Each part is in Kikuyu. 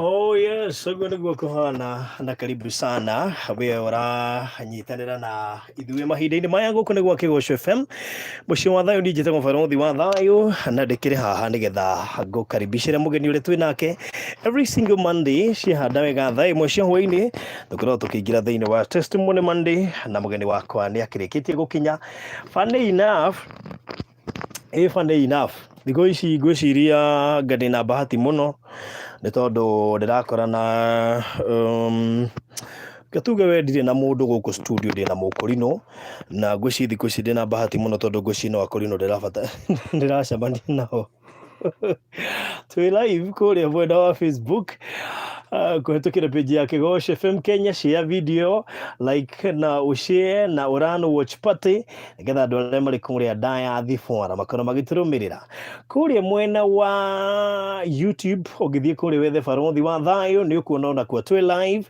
Oh yes, ũguo nĩguo kũhana na karibu sana we ũranyitanĩra na ithuĩ mahinda-inĩ maya gũkũ nĩ gwa Kĩgoco FM mũciĩ wa thayũ ndinjĩte mũbarũthi wa thayũ na ndĩkĩrĩ haha nĩgetha ngũkaribicĩre mũgeni ũrĩa twĩ nake every single Monday ciahanda wega thaa ĩmwe cia hwaĩ-inĩ tũkoragwo tũkĩingĩra thĩinĩ wa testimony Monday na mũgeni wakwa nĩ akĩrĩkĩtie gũkinya funny enough ĩ funny enough thikũ ici ngwĩciria anga ndĩ na bahati mũno nĩ tondũ ndĩrakorana um, reke tuge we ndirĩ na mũndũ gũkũ studio ndĩ na mũkũrinũ na ngwĩciria thikũ ici ndĩ na bahati mũno tondũ ngwĩciria no akũrinũ ndĩrabata ndĩracemania nao twĩ live kũrĩa mwena wa facebook ah, kũhetũkĩra page ya kĩgoco fm kenya share video like na ũshare na ũran watch party nĩgetha andũ arĩa marĩ kũrĩa ndaya thibora makorwo magĩtũrũmĩrĩra kũrĩa mwena wa youtube ũngĩthiĩ kũrĩa wethe barothi wa thayũ nĩ ũkuona ona kuo twĩ live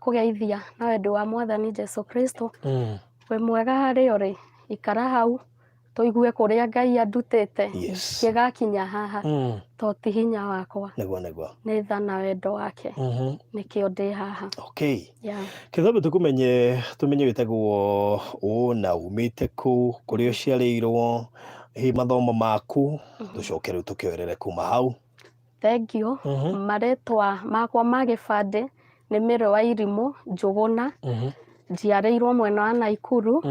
kũgeithia na wendo wa mwathani Jesu Kristo Mm. we mwega harĩ orĩ ikara hau tũigue kũrĩa ngai andutĩte Yes. kĩgakinya haha Mm. to ti hinya wakwa Nĩguo nĩguo. nĩ tha na wendo wake Mhm. nĩkĩo ndĩ haha Okay. yeah. Kĩthambi tũkũmenye tũmenye wĩtagwo ũ na umĩte kũ kũrĩa ũciarĩirwo hihi mathomo maku tũcoke rĩu tũkĩoerere kuma hau Thengiũ, marĩtwa makwa ma gĩbandĩ nĩ Mĩrũ wa Irimũ Njũgũna, njiarĩirwo mwena wa Naikuru,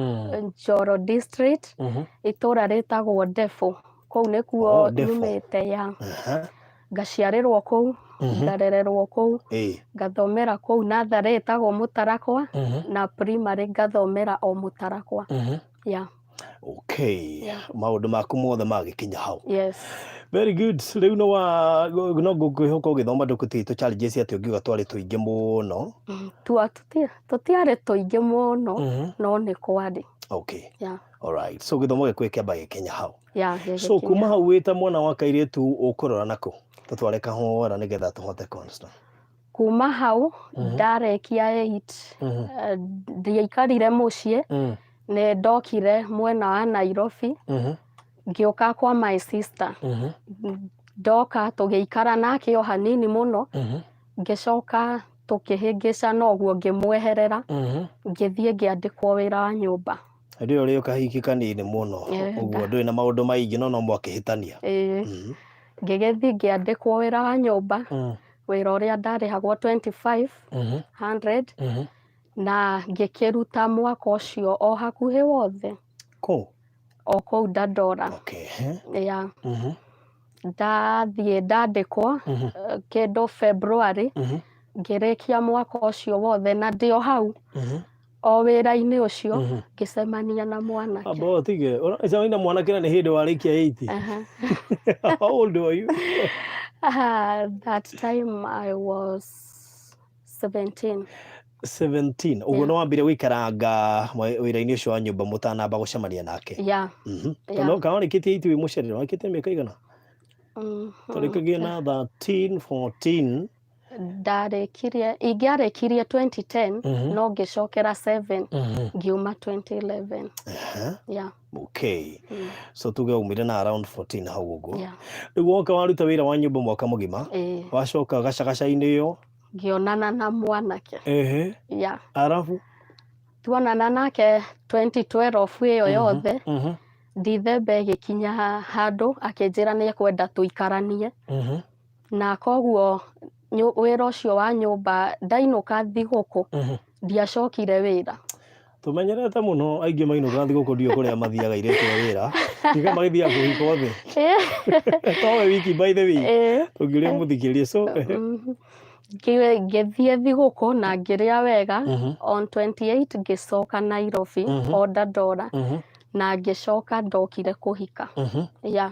Njoro District, itũra rĩtagwo Ndebũ, kũu nĩkuo Oh, Ndebũ. nyumĩte ya. Aha. Ngaciarĩrwo kũu, ngarererwo kũu, Ĩĩ. ngathomera kũu natharĩ ĩtagwo Mũtarakwa, na primary ngathomera o Mũtarakwa. Mhm. Yeah. okay maũndũ maku mothe magĩkinya hau yes very good rĩu no wa no ngũkwĩhoka ũgĩthoma ndũkũti tũ challenges atĩ ũngiuga twarĩ tũingĩ mũno Mm, tua- tũti- tũtiarĩ tũingĩ mũno Mhm. no nĩ kwarĩ okay ya alright so gĩthomo gĩkũĩ kĩamba gĩkinya hau ya so gĩgĩkinya. kuma hau wĩta mwana wa kairĩtu ũkũrora nakũ tũtware kahora nĩgetha tũhote constant kuma hau Mhm. ndarekia eight Mhm. eh, ndiaikarire mũciĩ Mm. nĩ ndokire mwena wa nairobi Mhm. ngĩũka kwa my sister Mhm. ndoka tũgĩikara nake o hanini mũno Mhm. ngĩcoka tũkĩhĩngĩcana ũguo ngĩmweherera Mhm. ngĩthiĩ ngĩandĩkwo wĩra wa nyũmba rĩo rĩo kahiki kanini mũno Eh, ũguo ndũrĩ na maũndũ maingĩ no no mwakĩhĩtania Ĩĩ, Mhm. ngĩgĩthiĩ ngĩandĩkwo wĩra wa nyũmba Mm. wĩra ũrĩa ndarĩhagwo 2500 Mhm. na ngĩkĩruta mwaka ũcio o hakuhĩ wothe Kũ? o kũu Dandora Okay. eh. ya Mhm. ndathiĩ ndandĩkwo Mhm. eh, kĩndũ February Mhm. ngĩrĩkia mwaka ũcio wothe na ndĩ o hau Mhm. o wĩra-inĩ ũcio Mhm. ngĩcemania na mwanake Amba ũtige. Ũracemania na mwanake na nĩ hĩndĩ warĩkia 80. Aha. How old were you? Ah, that time I was 17 17. Ũguo Yeah. nĩ wambire gũikaranga mwe- wĩra-inĩ ũcio wa nyũmba mũtanamba gũcemania nake. yeah Mhm. Yeah. Tondũ kana warĩkĩtie 8 wĩ mũcerere, warĩkĩtie mĩaka igana? Mhm. Twarĩkagia na 13, 14. ndarekirie ingĩarekirie 2010 Mhm. no ngĩcokera 7 Mhm. ngiuma 2011 Aha, yeah. okay mm, so tuge umire na around 14 hau ũguo yeah. rĩu woka waruta wĩra wa nyũmba mwaka mũgima Eh, wacoka gacagaca-inĩ ĩyo ngĩonana na mwanake ehe yeah. arabu tuonana nake 2012 ĩyo yothe Mhm, ndithembe ĩgĩkinya handũ akĩnjĩra nĩ ekwenda tũikaranie mhm, na koguo nyu- wĩra ũcio wa nyũmba ndainũka thigũkũ Mhm. ndiacokire wĩra tũmenyerete mũno aingĩ mainũka thigũkũ ndiũ kũrĩa mathiaga irĩtu a wĩra tiga magĩthiaga kũhikwo thĩ towe wiki by the week Eh, ũngĩũria mũthikĩrie so mhm. Ngĩ- ngĩthiĩ thigũkũ na ngĩrĩa wega Mhm. on 28 ngĩcoka nairobi Mhm. o ndandora Mhm, na ngĩcoka ndokire kũhika mhm. ya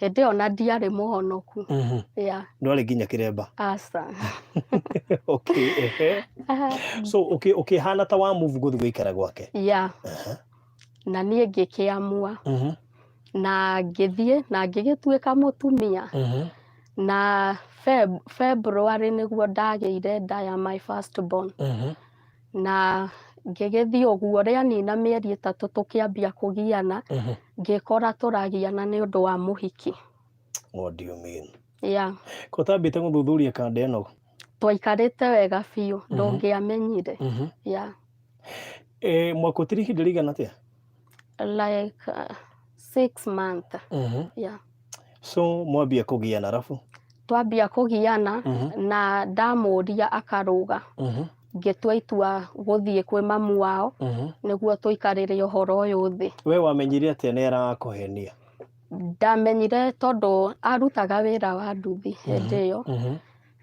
hĩndĩ ĩyo na ndiarĩ mũhonoku Mhm. yeah. ndwarĩ nginya kĩremba asa okay ehe. so ũkĩ- ũkĩhana ta wa move gũthiĩ gũikara gwake yeah. Aha. na niĩ ngĩkĩamua Mhm, na ngĩthiĩ na ngĩgĩtuĩka mũtumia mhm. na Feb- February nĩguo ndagĩire nda ya my first born Mhm. na ngĩgĩthiĩ ũguo rĩanina mĩeri ĩtatũ tũkĩambia kũgiana Mhm. ngĩkora tũragiana nĩ ũndũ wa mũhiki What do you mean? ya Ko ũtambĩte gũthuthuria kanda ĩno? twaikarĩte wega biũ ndũngĩamenyire Mhm. ya E, mwakũtiri ihinda rĩigana atĩa? like uh, six month Mhm. yeah. so mwambia kũgiana arabu twambia kũgiana Mhm. na ndamũria akarũga Mhm. ngĩtua itua gũthiĩ kwĩ mamu wao Mhm. nĩguo tũikarĩre ũhoro ũyũ thĩ we wamenyire atĩa nĩ arakũhenia ndamenyire tondũ arutaga wĩra wa nduthi hĩndĩ ĩyo Mhm.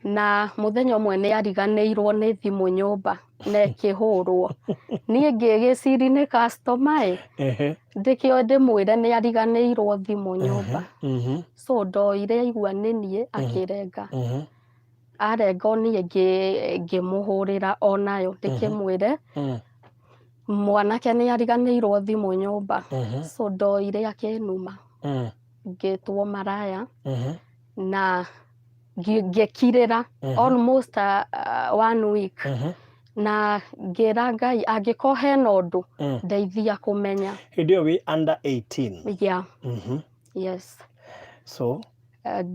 na mũthenya ũmwe nĩ ariganĩirwo nĩ thimũ nyũmba na ĩkĩhũrwo niĩ ngĩgĩcirinĩ kastoma ĩ Ehe. ndĩkĩo ndĩmwĩre nĩ ariganĩirwo thimũ nyũmba Mhm. so ndoire aigua nĩ niĩ akĩrenga Mhm. arenga o niĩ ngĩ- ngĩmũhũrĩra o nayo ndĩkĩmwĩre Mhm. mwanake nĩ ariganĩirwo thimũ nyũmba Mhm. so ndoire akĩnuma Mhm. ngĩtwo maraya Mhm. na ngi- ngĩkirĩra Mhm. almost a, a, one week Mhm. na ngĩra ngai angĩkorwo hena ũndũ Mm. ndeithia kũmenya hĩndĩ ĩyo wĩ under 18 yeah, Mhm. yes so Eh,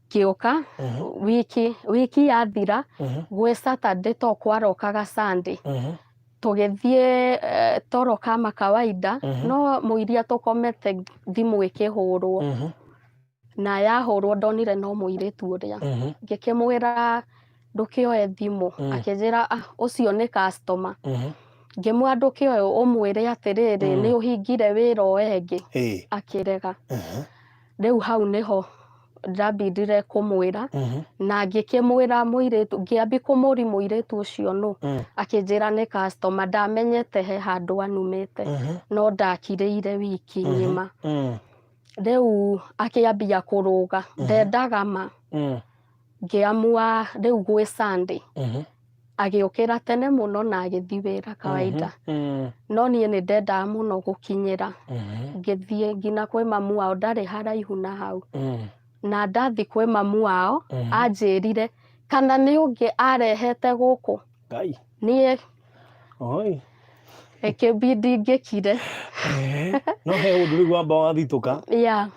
ngĩũka Mhm. wiki wiki yathira Mhm. gwĩ saturday to kwarokaga sunday Mhm. tũgĩthiĩ eh, toro kama kawaida Mhm. no mũiria tũkomete thimũ ĩkĩhũrwo Mhm. na yahũrwo ndonire no mũirĩtu ũrĩa Mhm, ngĩkĩmwĩra ndũkĩoe thimũ Mm. akĩnjĩra "Ah, ũcio nĩ customer mhm. ngĩmwĩra ndũkĩoe ũmwĩre atĩrĩrĩ Mm. nĩ ũhingire wĩra ũyũ ĩngĩ Ĩĩ, akĩrega mhm, rĩu hau nĩho ndambindire kũmwĩra mhm, na ngĩkĩmwĩra mũirĩtu ngĩambi kũmũri mũirĩtu ũcio nũ mm, akĩnjĩra nĩ customer ndamenyete he handũ anumĩte mhm, no ndakirĩire wiki Mhm. ng'ima mm. rĩu akĩambia kũrũga ndendaga ma Mm. ngĩamua rĩu gwĩ Sunday Mhm. agĩũkĩra tene mũno na agĩthiĩ wĩra kawaida Mm. no niĩ nĩ ndendaga mũno gũkinyĩra Mhm. ngĩthiĩ nginya kwĩ mamu wao ndarĩ haraihu na hau Mm. na ndathi kwĩ mamu wao Mhm. anjĩrire kana nĩ ũngĩ arehete gũkũ Ngai. niĩ Oi. Ĩkĩmbi ndingĩkire. Eh, no he ũndũ rĩu wamba wathitũka. Ya.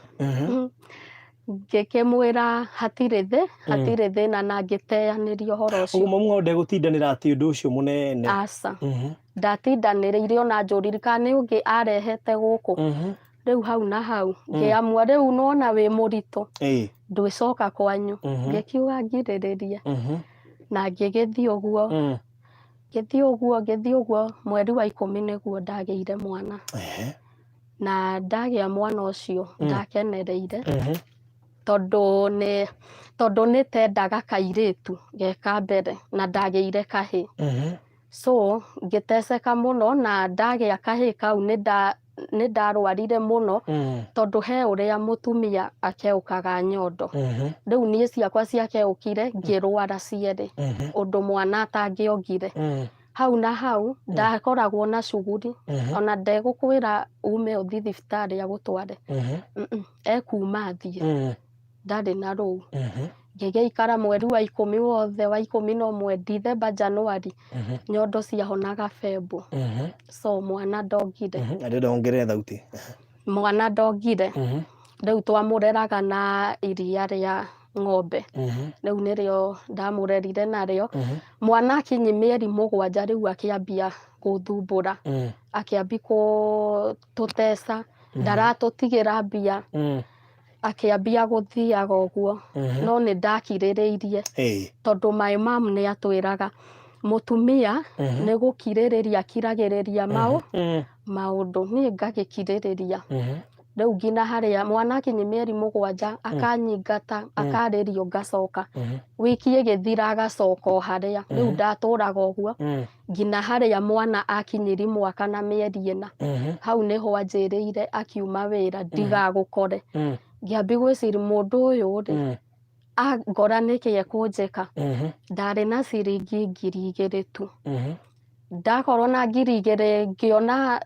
Ngĩkĩmwĩra hatirĩ thĩ, mm. hatirĩ thĩna na ngĩteyanĩria ũhoro ũcio. Ũguo mamu wao ndegũtindanĩra atĩ ũndũ ũcio mũnene. Aca. Mhm. Ndatindanĩrĩire ona njũriri kana nĩ ũngĩ arehete gũkũ. Mhm. Rĩu hau na hau mm. ngĩamua rĩu nona wĩ mũritũ ndwĩcoka kwanyu. Mhm. Ngĩkiuga ngirĩrĩrie na ngĩgĩthiĩ ũguo. Mm. Ngĩthiĩ ũguo ngĩthiĩ ũguo mweri wa ikũmi nĩguo ndagĩire mwana Ehe. na ndagĩa mwana ũcio Mm. ndakenereire Mhm. tondũ nĩ tondũ nĩ tendaga kairĩtu geka mbere na ndagĩire kahĩ Mhm. so ngĩteceka mũno na ndagĩa kahĩ kau nĩ nda nĩ ndarwarire mũno mm. tondũ he ũrĩa mũtumia akeũkaga nyondo mm-hmm. rĩu niĩ ciakwa ciakeũkire mm. ngĩrwara cierĩ mm-hmm. ũndũ mwana atangĩongire mm. hau na hau ndakoragwo na cuguri mm-hmm. ona ndegũkwĩra ume ũthiĩ thibitarĩ agũtware ekuma thiĩ ndarĩ na rũu Mhm, ngĩgĩikara mweri wa ikũmi wothe wa ikũmi na ũmwe ndithemba januari mhm, nyondo ciahonaga bembo mhm, so mwana ndongire mhm. Na ndĩrenda wongerere thauti mwana ndongire Mhm, rĩu twamũreraga na iria rĩa ng'ombe mhm, rĩu nĩrĩo ndamũrerire narĩo mhm, mwana akinyi mĩeri mũgwanja rĩu akĩambia gũthumbũra mhm. akĩambi kũ- tũteca Mhm. ndaratũtigĩra mbia Mm. akĩambia gũthiaga ũguo Mhm. no nĩ ndakirĩrĩirie Hey. tondũ my mam nĩ atwĩraga mũtumia Mhm. nĩ gũkirĩrĩria kiragĩrĩria maũ Mm. maũndũ niĩ ngagĩkirĩrĩria Mhm. rĩu nginya harĩa mwana akinyia mĩeri mũgwanja akanyingata akarĩrio ngacoka Mhm. wiki ĩgĩthira agacoka o harĩa rĩu ndatũraga ũguo Mm. nginya harĩa mwana akinyĩri mwaka na mĩeri ĩna Mhm. hau nĩho anjĩrĩire akiuma wĩra ndigagũkore Mm. ngĩambi gwĩciri mũndũ ũyũ rĩ Mm. angora nĩkĩ ekũnjĩka Mhm. ndarĩ na ciringi ngiri igĩrĩ tu Mhm. ndakorwo na ngiri igĩrĩ ngĩona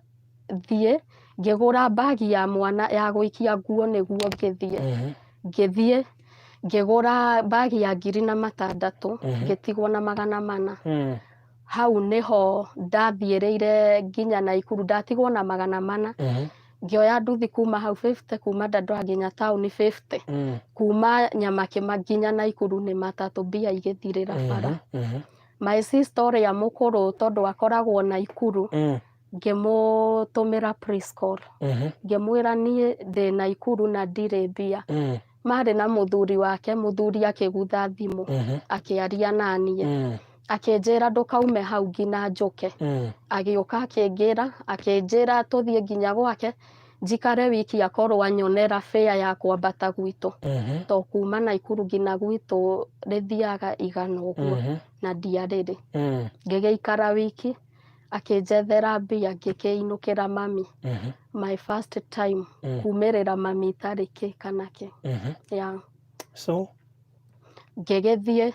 thiĩ ngĩgũra mbagi ya mwana ya gũikia nguo nĩguo ngĩthiĩ Mhm. ngĩthiĩ ngĩgũra mbagi ya ngiri na matandatũ Mhm. ngĩtigwo na magana mana Mm. hau nĩho ndathiĩrĩire nginya naikuru ndatigwo na magana mana Mhm. ngĩoya nduthi kuma hau 50 kuma dandora nginya taũni 50 Mm. kuma nyamakĩma nginya naikuru nĩ matatũ mbia igĩthirĩra bara Mhm. Mhm. my sister ũrĩa mũkũrũ tondũ akoragwo naikuru Mm. ngĩmũtũmĩra praise call Mhm. ngĩmwĩra niĩ ndĩ Naikuru na ndirĩ mbia Mm. marĩ na mũthuri wake mũthuri akĩgutha thimũ Mhm. akĩaria naniĩ Mm. akĩnjĩra ndũkaume hau nginya njũke Mm. agĩũka akĩngĩra akĩnjĩra tũthiĩ nginya gwake njikare wiki akorwo anyonera bĩa ya kwambata gwitũ Mhm. to kuma Naikuru nginya gwitũ rĩthiaga igana ũguo Mhm. na ndiarĩrĩ Mm. ngĩgĩikara wiki akĩnjethera mbia ngĩkĩinũkĩra mami Mhm. my first time Mm. kumĩrĩra mami itarĩ kĩ kana kĩ Mhm. yeah. so ngĩgĩthiĩ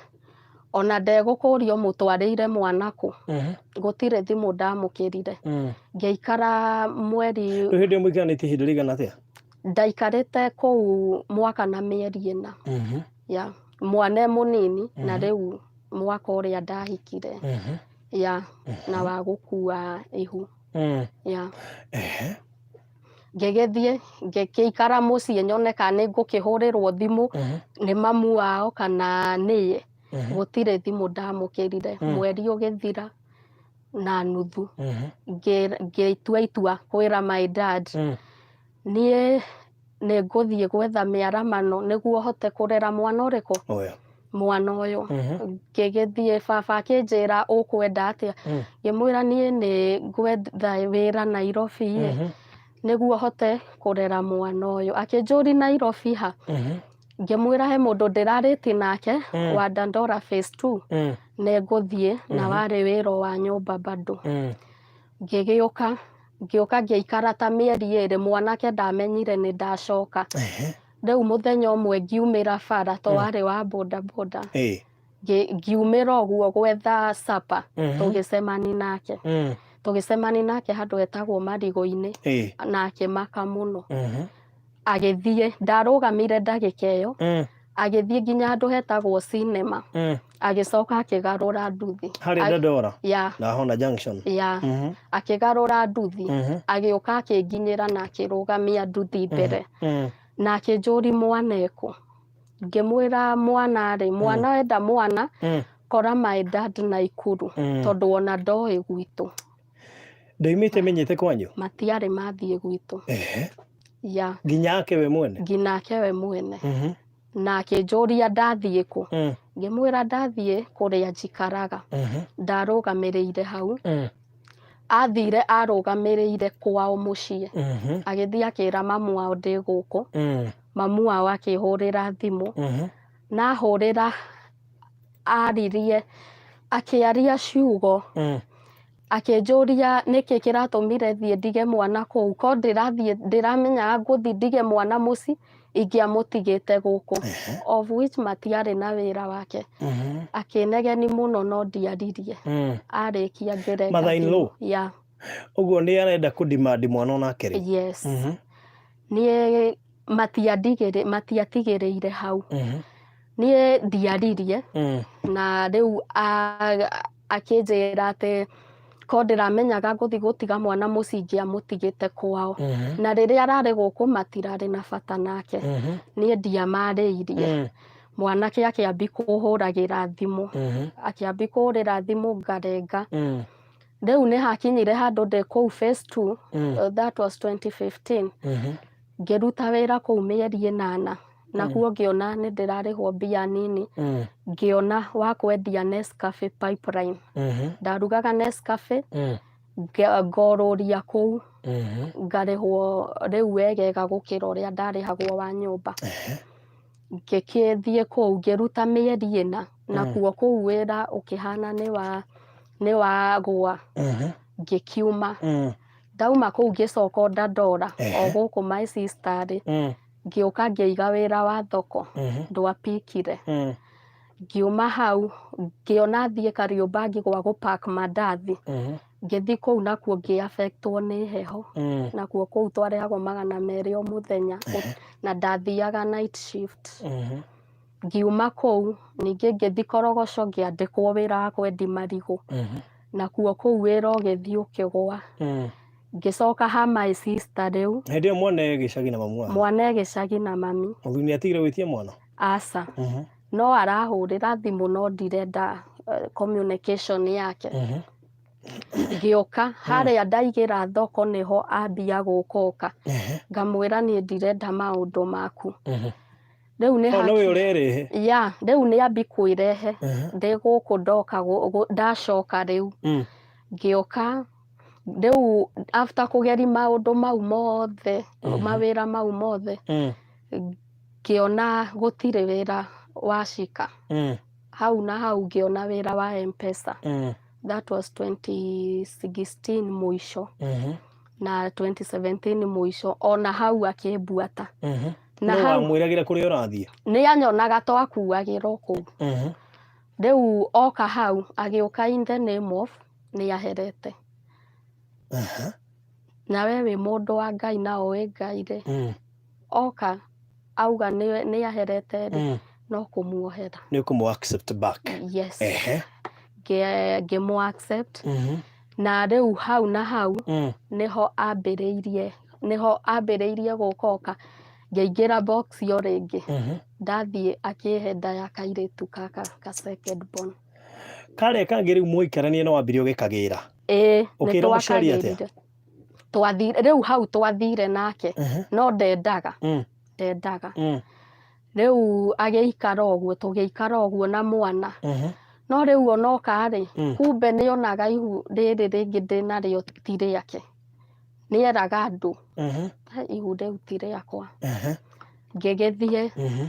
ona ndegũkũrio mũtwarĩire mwana kũ Mhm. gũtirĩ thimũ ndamũkĩrire Mm. ngĩikara mweri rĩu hĩndĩ ĩyo mũiganĩtie ihinda rĩigana atĩa ndaikarĩte kũu mwaka na mĩeri ĩna Mhm. ya mwana e mũnini na Mhm. rĩu mwaka ũrĩa ndahikire Mhm. ya na wa gũkua ihu Mm. ya Ehe. ngĩgĩthiĩ ngĩkĩikara mũciĩ nyone kana nĩ ngũkĩhũrĩrwo thimũ Mhm. nĩ mamu wao kana niĩ Mhm. gũtirĩ thimũ ndamũkĩrire Mm. mweri ũgĩthira na nuthu Mhm. ngĩ- ngĩtua itua kwĩra my dad Mm. Niĩ nĩ ngũthiĩ gwetha mĩaramano nĩguo hote kũrera mwana ũrĩkũ? Ũyũ. Mwana ũyũ. Ngĩgĩthiĩ baba akĩnjĩra ũkwenda atĩa? Ngĩmwĩra niĩ nĩ ngwetha wĩra Nairobi ĩ, nĩguo hote kũrera mwana ũyũ. Akĩnjũri Nairobi ha? Ngĩmwĩra he mũndũ ndĩrarĩti nake wa Dandora phase two, nĩ ngũthiĩ na warĩ wĩra o wa nyũmba bado. ngĩgĩũka ngĩũka ngĩikara ta mĩeri ĩrĩ mwanake ndamenyire nĩ ndacoka Ehe. rĩu mũthenya ũmwe ngiumĩra bara to warĩ wa bodaboda Ĩĩ. Ngĩ- ngiumĩra ũguo gwetha capa Mhm. tũgĩcemani nake Mm. tũgĩcemani nake handũ etagwo marigũ-inĩ Ĩĩ. na akĩmaka mũno Mhm. agĩthiĩ ndarũgamire ndagĩka ĩyo mm. agĩthiĩ nginya handũ hetagwo cinema mm. agĩcoka akĩgarũra nduthi harĩ Dodora ya na Hona Junction ya mm -hmm. akĩgarũra nduthi mm -hmm. agĩũka akĩnginyĩra na akĩrũgamia nduthi mhm. mbere mm -hmm. na akĩnjũri mwana eko ngĩmwĩra mwana rĩ mm. mwana mm -hmm. wenda mwana mm -hmm. kora my dad na ikuru mm -hmm. tondũ ona ndoĩ gwitũ ndoimĩte menyete kwanyu matiarĩ mathiĩ gwitũ Ehe. ya nginya ake we mwene nginake we mwene Mhm. na akĩnjũria ndathiĩ kũ Mm, ngĩmwĩra ndathiĩ kũrĩa njikaraga mhm, ndarũgamĩrĩire hau mm, athire arũgamĩrĩire kwao mũciĩ mhm, agĩthiĩ akĩra mamu wao ndĩ gũkũ mm, mamu wao akĩhũrĩra thimũ mhm. nahũrĩra aririe akĩaria ciugo Mm. akĩnjũria nĩkĩ kĩratũmire thiĩ ndige mwana kũu ko ndĩrathiĩ ndĩramenya ngũthi ndige mwana mũci ingĩamũtigĩte gũkũ Ehe. of which matiarĩ na wĩra wake Mhm. akĩnegeni mũno no ndiaririe Mm. arĩkia ngerenga Mother-in-law? ya Ũguo nĩ arenda kũ demand mwana onake rĩ? Yes. Mhm. Niĩ matiandigĩrĩ- matiatigĩrĩire hau. Mhm. Niĩ ndiaririe Mm. na rĩu a- akĩnjĩra atĩ ko ndĩramenyaga ngũthi gũtiga mwana mũciĩ ingĩamũtigĩte kwao. Mhm. Na rĩrĩa ararĩ gũkũ matirarĩ na bata nake. Mhm. Niĩ ndiamarĩirie. Mm. Mwanake akĩambi kũhũragĩra thimũ. Mhm. Akĩambi kũhũrĩra thimũ ngarenga. Mm. rĩu nĩ hakinyire handũ ndĩ kũu phase two Mm. uh, that was 2015 Mhm. ngĩruta wĩra kũu mĩeri ĩnana nakuo ngĩona nĩ ndĩrarĩhwo mbia nini Mm. ngĩona wa kwendia Nescafe pipeline Mhm. ndarugaga Nescafe Mm. nge- ngorũria kũu Mhm. ngarĩhwo rĩu wegega gũkĩra ũrĩa ndarĩhagwo wa nyũmba ngĩkĩthiĩ kũu ngĩruta mĩeri ĩna nakuo kũu wĩra ũkĩhana nĩ wa nĩ wa gwa Mhm. ngĩkiuma Mm. ndauma kũu ngĩcoka o ndandora o Ehe. gũkũ my sister rĩ Mm. ngĩũka ngĩiga wĩra wa thoko Mhm. ndwapikire Mm. ngiuma hau ngĩona thiĩ kariũmba ngĩgwa gũ pack mandathi Mhm. ngĩthi kũu nakuo ngĩ affectwo nĩ heho Mm. nakuo kũu twarehagwo magana merĩ o mũthenya Ehe. na ndathiaga night shift Mhm. Ngiuma kũu ningĩ ngĩthi korogoco ngĩandĩkwo wĩra wa kwendi marigũ Mhm. nakuo kũu wĩra ũgĩthi ũkĩgwa Mm. ngĩcoka ha my sister rĩu hĩndĩ ĩyo mwana e gĩcagi na mamu wao mwana e gĩcagi na mami mũthuri nĩ atigire gwĩtia mwana aca Mhm. no arahũrĩra thimũ no ndirenda eh, communication yake Mhm. ngĩũka harĩa ndaigĩra thoko nĩho ambia gũkũka Ehe. ngamwĩra niĩ ndirenda maũndũ maku Mhm. rĩu nĩ Oh, nowe ũrerehe. ya rĩu nĩ ambi kwĩrehe Aha. ndĩ gũkũ ndoka gũ- gũ- ndacoka rĩu Mm. ngĩũka rĩu after kũgeri maũndũ mau mothe Mhm. mawĩra mau mothe Mm. ngĩona gũtirĩ wĩra wacika Mm. hau na hau ngĩona wĩra wa mpesa Mm. that was 2016 mũico Mhm. na 2017 mũico ona hau akĩmbuata Mhm. na nĩ hau wamwĩragĩra kũrĩa ũrathiĩ nĩ anyonaga twakuagĩrwo kũu Mhm. rĩu oka hau agĩũka in the name of nĩ aherete Aha. na we wĩ mũndũ wa ngai na ũĩ ngai rĩ Mm, oka auga nĩ nĩ aherete rĩ mm. no kũmuohera nĩ ũkũmũ accept back yes Ehe. Ngĩ- ngĩmũ accept Mhm. Na rĩu hau na hau mm. nĩho ambĩrĩirie nĩho ambĩrĩirie gũka oka ngĩingĩra box yo rĩngĩ mm -hmm. ndathiĩ akĩhenda ya kairĩtu kaka ka second born karĩa kangĩ rĩu mũikaranie no wambire ũgĩkagĩra ĩĩ nĩtwakagĩrire twathire rĩu hau twathire nake uh -huh. no ndendaga mm. ndendaga mm. rĩu agĩikara ũguo tũgĩikara ũguo na mwana Ehe. no rĩu onoka rĩ Mm. kumbe nĩ onaga ihu rĩrĩ rĩngĩ ndĩnarĩo ti rĩake nĩ eraga andũ Ehe. "Eh, ihu rĩu ti rĩakwa Ehe. ngĩgĩthiĩ Mhm.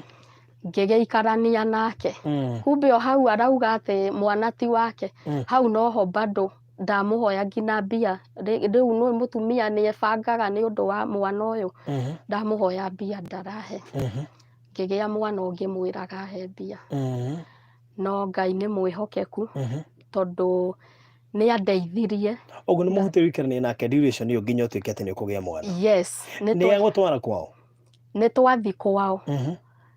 ngĩgĩikarania nake Mm. kumbe o hau arauga atĩ mwana ti wake Mm. hau noho bado ndamũhoya nginya mbia Rĩ- rĩu nũĩ mũtumia nĩ ebangaga nĩ ũndũ wa mwana ũyũ Mhm, ndamũhoya mbia ndarahe mhm, ngĩgĩa mwana ũngĩ mwĩraga he mbia mhm, no ngai nĩ mwĩhokeku mhm. tondũ nĩ andeithirie ũguo nĩ mũhutĩrĩkanĩria nake duration ĩyo nginya ũtuĩke atĩ nĩ ũkũgĩa mwana yes nĩ nĩ twa- egũtwara kwao nĩ twathi kwao Mhm.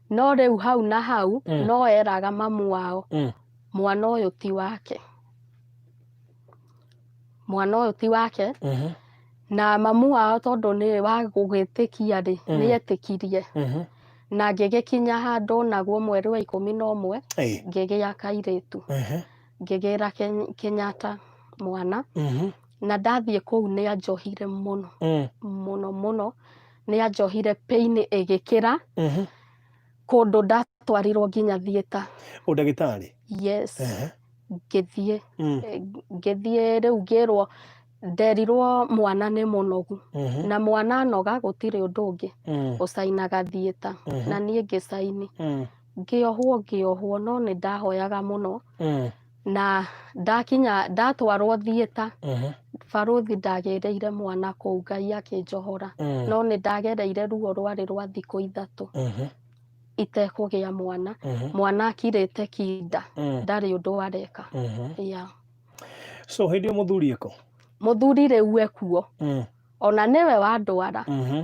no rĩu hau na hau Mm. no eraga mamu wao Mm. mwana ũyũ ti wake mwana ũyũ ti wake Mhm. na mamu wao tondũ nĩ wa gũgĩtĩkia rĩ Mm. nĩ etĩkirie Mhm. na ngĩgĩkinya handũ naguo mweri wa ikũmi na ũmwe Ĩĩ. ngĩgĩa kairĩtu Mhm. ngĩgĩra Ken- kenyatta mwana Mhm. na ndathiĩ kũu nĩ anjohire mũno Mm. mũno mũno nĩ anjohire pain ĩgĩkĩra Ehe. kũndũ ndatwarirwo nginya thieta Ũndagĩtarĩ. yes Ehe. ngĩthiĩ Mm. eh, ngĩthiĩ rĩu ngĩrwo nderirwo mwana nĩ mũnogu Mhm. na mwana anoga gũtirĩ ũndũ ũngĩ Mm. ũcainaga thieta Mhm. na niĩ ngĩcaini Mm. ngĩohwo ngĩohwo no nĩ ndahoyaga mũno Mm. na ndakinya ndatwarwo thieta Mhm. barũthi ndagereire mwana kũu ngai akĩnjohora Mm. no nĩ ndagereire ruo rwarĩ rwa thikũ ithatũ Mhm. itekũgĩa mwana Mhm. mwana akirĩte kinda Mm. ndarĩ ũndũ areka Mhm. ya so hĩndĩ ĩyo mũthuri ĩko mũthuri rĩu ekuo Mm. ona nĩwe wandwara Mhm.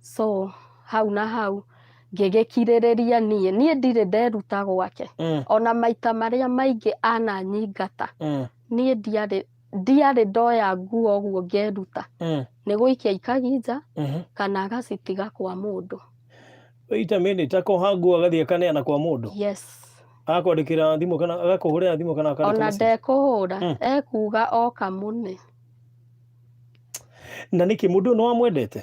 so hau na hau ngĩgĩkirĩrĩria niĩ niĩ ndirĩ nderuta gwake Mm, ona maita marĩa maingĩ ananyingata mm, niĩ ndiarĩ ndiarĩ ndoya nguo ũguo ngeruta mm, nĩ gũikia ikagi nja mhm. kana agacitiga kwa mũndũ wait a minute akoha nguo agathiĩ akaneana kwa mũndũ yes akwandĩkĩra thimũ kana agakũhũrĩra thimũ kana akandĩka ona message? ndekũhũra Mm. ekuga oka mũne na nĩkĩ mũndũ ũyũ nĩwamwendete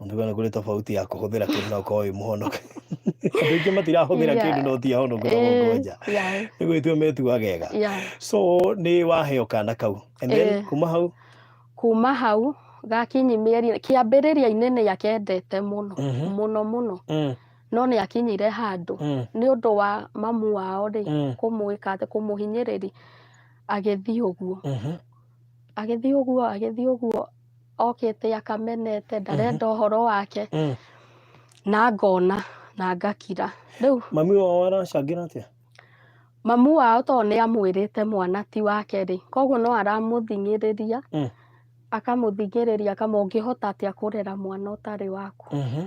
Nduga nĩ kũrĩ tofauti ya kũhũthĩra kĩndũ na ũkorwo wĩ mũhonoke. Andũ aingĩ matirahũthĩra Yeah. kĩndũ no ti ahonoku na Eh, mongonja. yeah, Nĩ gwĩtua metuaga ega. yeah. So nĩ waheo kana kau. And then Eh. kuma hau. kuma hau gakinyi mĩeri kĩambĩrĩria-inĩ nĩ akendete mũno Mhm. mũno mũno Mm, no nĩ akinyire handũ mm, nĩ ũndũ wa mamu wao rĩ mm, kũmwĩka atĩ kũmũhinyĩrĩria agĩthiĩ ũguo mhm. agĩthiĩ ũguo agĩthiĩ ũguo okĩte akamenete mhm. ndarenda mm -hmm. ũhoro wake mm. na ngona na ngakira rĩu mami wao aracangĩra atĩa mamu wao tondũ nĩ amwĩrĩte mwana ti wake rĩ koguo no aramũthing'ĩrĩria mm. akamũthing'ĩrĩria kama ũngĩhota atĩa kũrera mwana ũtarĩ waku mm -hmm.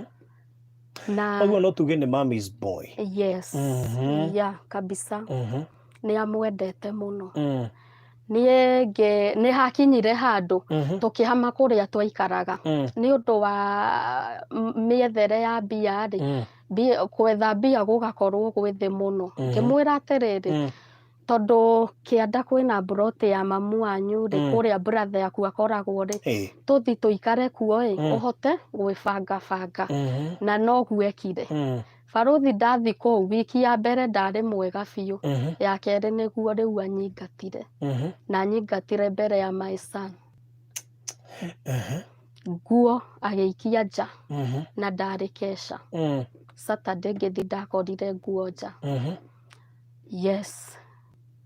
na koguo no tuge nĩ mommy's boy yes mm -hmm. yeah kabisa mm -hmm. nĩ amwendete mũno Mm. niĩ ngĩ- nĩ hakinyire handũ Mhm. tũkĩhama kũrĩa twaikaraga Mm. nĩ ũndũ wa m- mĩethere ya mbia rĩ Mm. mbia- gwetha mbia gũgakorwo gwĩ thĩ mũno Mhm. ngĩmwĩra atĩrĩrĩ Mm. tondũ kĩanda kwĩna mburoti ya mamu wanyu rĩ Mm. kũrĩa buratha yaku akoragwo rĩ Ĩĩ. tũthi tũikare kuo ĩ Mm. ũhote gwĩbangabanga Mhm. na noguo ekire Mm. Barũthi ndathi kũu wiki ya mbere ndarĩ mwega biũ, Mhm, ya kerĩ nĩguo rĩu anyingatire mhm, na anyingatire mbere ya my son. mhm, Nguo agĩikia nja mhm, na ndarĩ kesha. mm, Saturday ngĩthi ndakorire nguo nja. mhm, Yes,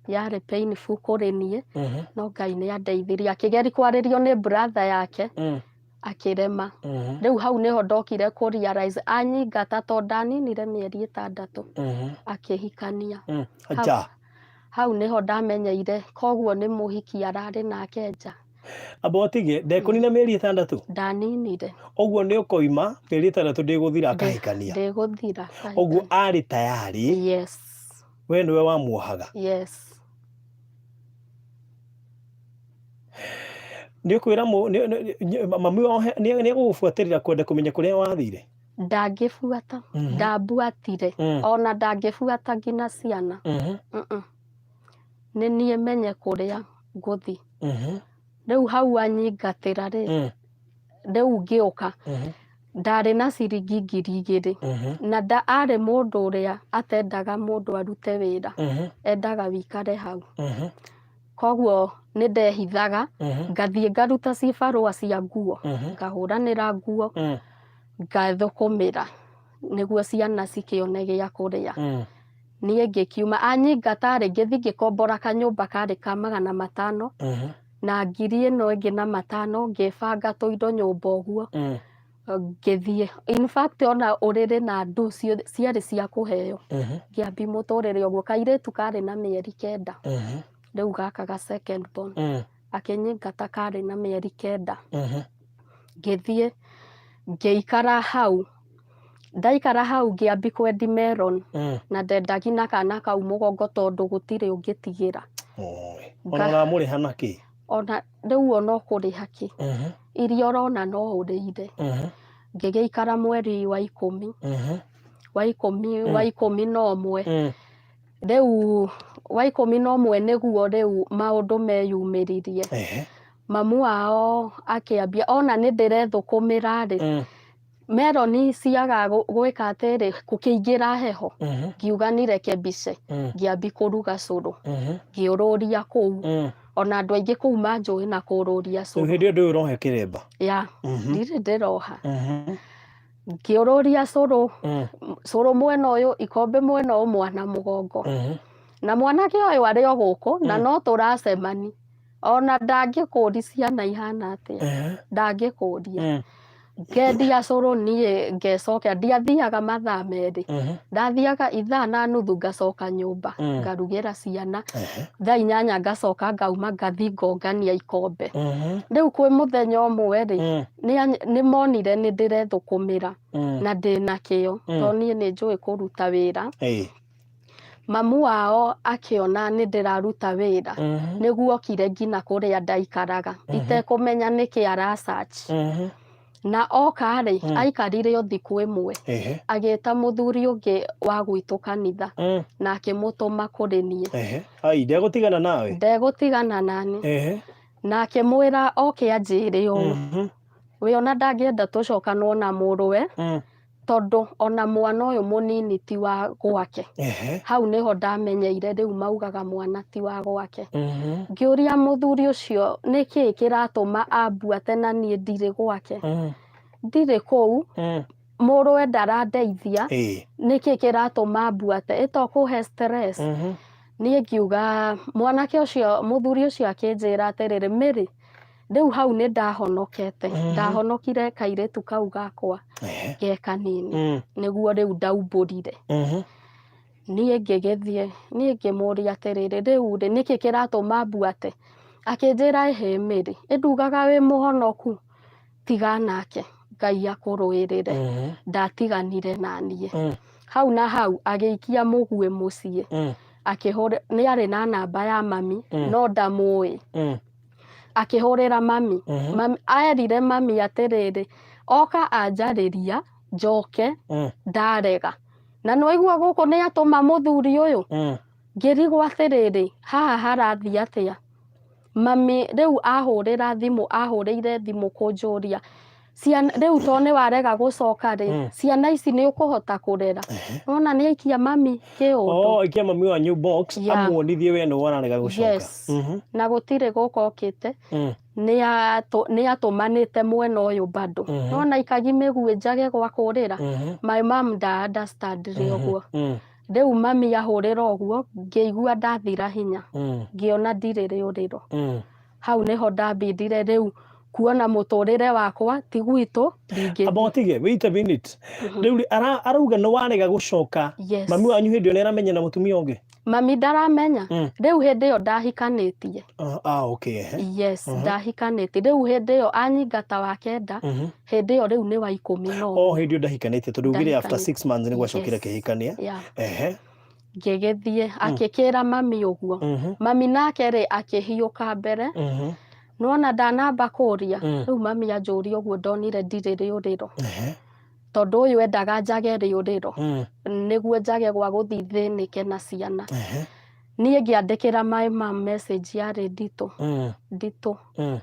yarĩ painful kũrĩ niĩ mhm, no Ngai nĩ andeithirie akĩgeria kwarĩrio nĩ brother yake mm, akĩrema Mhm, rĩu hau nĩho ndokire kũ realize anyingata to ndaninire mĩeri ĩtandatũ mhm. akĩhikania Mm, Hau- nja hau nĩho ndamenyeire koguo nĩ mũhiki ararĩ nake nja abotige ndekonina mĩeri ĩtandatũ ndaninire ũguo nĩ ũkoima mĩeri ĩtandatũ ndĩgũthira akahikania ndĩgũthira ũguo arĩ tayari yes we nĩwe wamuohaga yes Nĩũkwĩra mũ- nĩ- nĩ- nĩ- mami wao he- nĩ- nĩegũgũbuatĩrĩra kwenda kũmenya kũrĩa wathire ndangĩbuata Mhm. ndambuatire Mm. ona ndangĩbuata nginya ciana Mhm, Mm-mm. nĩ niĩ menye kũrĩa ngũthi mhm, rĩu hau anyingatĩra rĩ mm, rĩu ngĩũka mhm, ndarĩ na ciringi ngiri igĩrĩ mhm, na nda arĩ mũndũ ũrĩa atendaga mũndũ arute wĩra mhm, endaga wĩikare hau mhm. koguo nĩ ndehithaga Mhm. ngathiĩ ngaruta cibarũa cia nguo Mhm. ngahũranĩra nguo Mm. ngathũkũmĩra nĩguo ciana cikĩone gĩa kũrĩa Mm. niĩ ngĩkiuma anyingata rĩngĩ thiĩ ngĩkombora kanyũmba karĩ ka magana matano Mhm. na ngiri ĩno ĩngĩ na matano ngĩbanga tũindo nyũmba ũguo Mm. ngĩthiĩ in fact ona ũrĩrĩ na ndũ cio- ciarĩ cia kũheo Ehe, ngĩambi mũtũrĩre ũguo kairĩtu karĩ na mĩeri kenda ehe, rĩu gaka ga second born eh, akĩnyingata karĩ na mĩeri kenda ehe, ngĩthiĩ ngĩikara hau ndaikara hau ngĩambi kwendi meron eh. na ndendagi na kana kau mũgongo tondũ gũtirĩ ũngĩtigĩra Oi. Ona Nga- ũramũrĩha na kĩ? ona rĩu ona ũkũrĩha kĩ Mhm, iria ũrona no ũrĩire mhm, ngĩgĩikara mweri wa ikũmi mhm, wa ikũmi Mm. wa ikũmi na ũmwe mm, rĩu wa ikũmi na ũmwe nĩguo rĩu maũndũ meyumĩririe ehe, mamu wao akĩambia ona nĩ ndĩrethũkũmĩra rĩ mm, meroni ciaga gwĩka atĩrĩ kũkĩingĩra heho mhm, ngiuga nireke mbice mm, ngĩambi kũruga cũrũ mhm, ngĩũrũria kũu mm. ona andũ aingĩ kũu manjũĩ na kũũrũria Rĩu cũrũ hĩndĩ ĩyo ndũĩ ũrohe kĩremba ya Mhm, ndirĩ ndĩroha mhm, ngĩũrũria cũrũ mm, cũrũ mwena ũyũ ikombe mwena ũyũ mwana mũgongo mhm. na mwanake ũyũ arĩ o gũkũ na no tũracemani ona ndangĩkũũri ciana ihana atĩa Ehe. ndangĩkũũria Mm. ngendia cũrũ niĩ ngecokia ndiathiaga mathaa merĩ Mhm. ndathiaga ithaa na nuthu ngacoka nyũmba Mm. ngarugĩra ciana Ehe. thaa inyanya ngacoka ngauma ngathi ngongania ikombe Mhm. rĩu kwĩ mũthenya ũmwe rĩ Mm. nĩa- nĩ monire nĩ ndĩrethũkũmĩra Mm. na ndĩna kĩo Mm. tondũ niĩ nĩ njũĩ kũruta wĩra Ĩĩ. Mamu wao akĩona nĩ ndĩraruta wĩra Mhm. nĩguo okire nginya kũrĩa ndaikaraga itekũmenya nĩkĩ ara search Mhm. na oka rĩ aikarire o thikũ ĩmwe Ehe. agĩta mũthuri ũngĩ wa gwitũ kanitha Mm. na akĩmũtũma kũrĩ niĩ Ehe. Ai, ndegũtigana nawe. ndegũtigana nani Ehe. na akĩmwĩra oke anjĩre ũũ Mhm. we ona ndangĩenda tũcokanwo na mũrũwe Mm. tondũ ona mwana ũyũ mũnini ti wa gwake Ehe. hau nĩho ndamenyeire rĩu maugaga mwana ti wa gwake Mhm. ngĩũria mũthuri ũcio nĩ kĩĩ kĩratũma ambuate na niĩ ndirĩ gwake Mm. ndirĩ kũu Mm. mũrũwe ndarandeithia Ĩĩ. nĩ kĩĩ kĩratũma ambuate ĩto kũhe stress Mhm. niĩ ngiuga mwanake ũcio mũthuri ũcio akĩnjĩra atĩrĩrĩ mĩrĩ rĩu hau nĩ ndahonokete Mhm. ndahonokire kairĩtu kau gakwa Ehe. ge kanini Mm, nĩguo rĩu ndaumbũrire mhm. niĩ ngĩgĩthiĩ niĩ ngĩmũria atĩrĩrĩ rĩu rĩ nĩkĩ kĩratũma mbuate akĩnjĩra ĩhĩmĩrĩ ĩndugaga wĩ mũhonoku tiga nake ngai akũrũĩrĩre Mhm. ndatiganire na niĩ Mm, hau na hau agĩikia mũguĩ mũciĩ mm, akĩhũrĩ nĩ arĩ na namba ya mami Mm. no ndamũĩ mm. akĩhũrĩra mami Mhm. mami erire mami atĩrĩrĩ oka anjarĩria njoke Mm, ndarega na nĩwaigua gũkũ nĩ atũma mũthuri ũyũ mm, ngĩrigwo atĩrĩrĩ haha harathiĩ atĩa mami rĩu ahũrĩra thimũ ahũrĩire thimũ kũnjũria ciana rĩu to nĩ warega gũcoka rĩ Mm. ciana ici nĩ ũkũhota kũrera Ehe. nona nĩ aikia mami kĩũndũ Oh, ikia mami wanyu box Yeah. amuonithie we nĩwe wararega gũcoka. Yes. Mhm. na gũtirĩ gũka okĩte Mm. nĩ atũmanĩte mwena ũyũ bado Mhm. nona ikagi mĩguĩ njage gwa kũrĩra Mhm. my mom nda understand rĩ ũguo Mm. rĩu mami ahũrĩra ũguo ngĩigua ndathira hinya Mm. ngĩona ndirĩ rĩũrĩro Mm. hau nĩho ndambindire rĩu kuona mũtũrĩre wakwa ti gwitũ ndingĩ amba ũtige wait a minute rĩu rĩ, ara- arauga nĩ warega gũcoka Yes. mami wanyu hĩndĩ ĩyo nĩ aramenya na mũtumia ũngĩ mami ndaramenya Mm. rĩu hĩndĩ ĩyo ndahikanĩtie Ah, ah, okay ehe. yes ndahikanĩtie rĩu hĩndĩ ĩyo anyingata wa kenda Mhm. hĩndĩ ĩyo rĩu nĩ wa ikũmi na ũmwe o hĩndĩ ĩyo ndahikanĩtie tondũ ugire after Ndahikanĩtie. six months nĩ gwacokire Yes. kĩhikania Yeah. ehe ngĩgĩthiĩ akĩkĩra mami ũguo Mhm. mami nake rĩ akĩhiũka mbere Mhm. nona ndanamba kũria Mm. rĩu mami anjũria ũguo ndonire ndirĩ rĩũrĩro Ehe. tondũ ũyũ endaga njage rĩũrĩro Mm. nĩguo njage gwa gũthiĩ thĩnĩke na ciana Ehe. niĩ ngĩandĩkĩra maĩ ma message yarĩ nditũ Mm. nditũ Mm.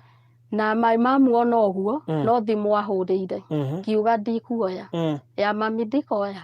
na maĩ mamuona ũguo Mm. no thimũ ahũrĩire Mhm. ngiuga ndikuoya Mm. ya mami ndikoya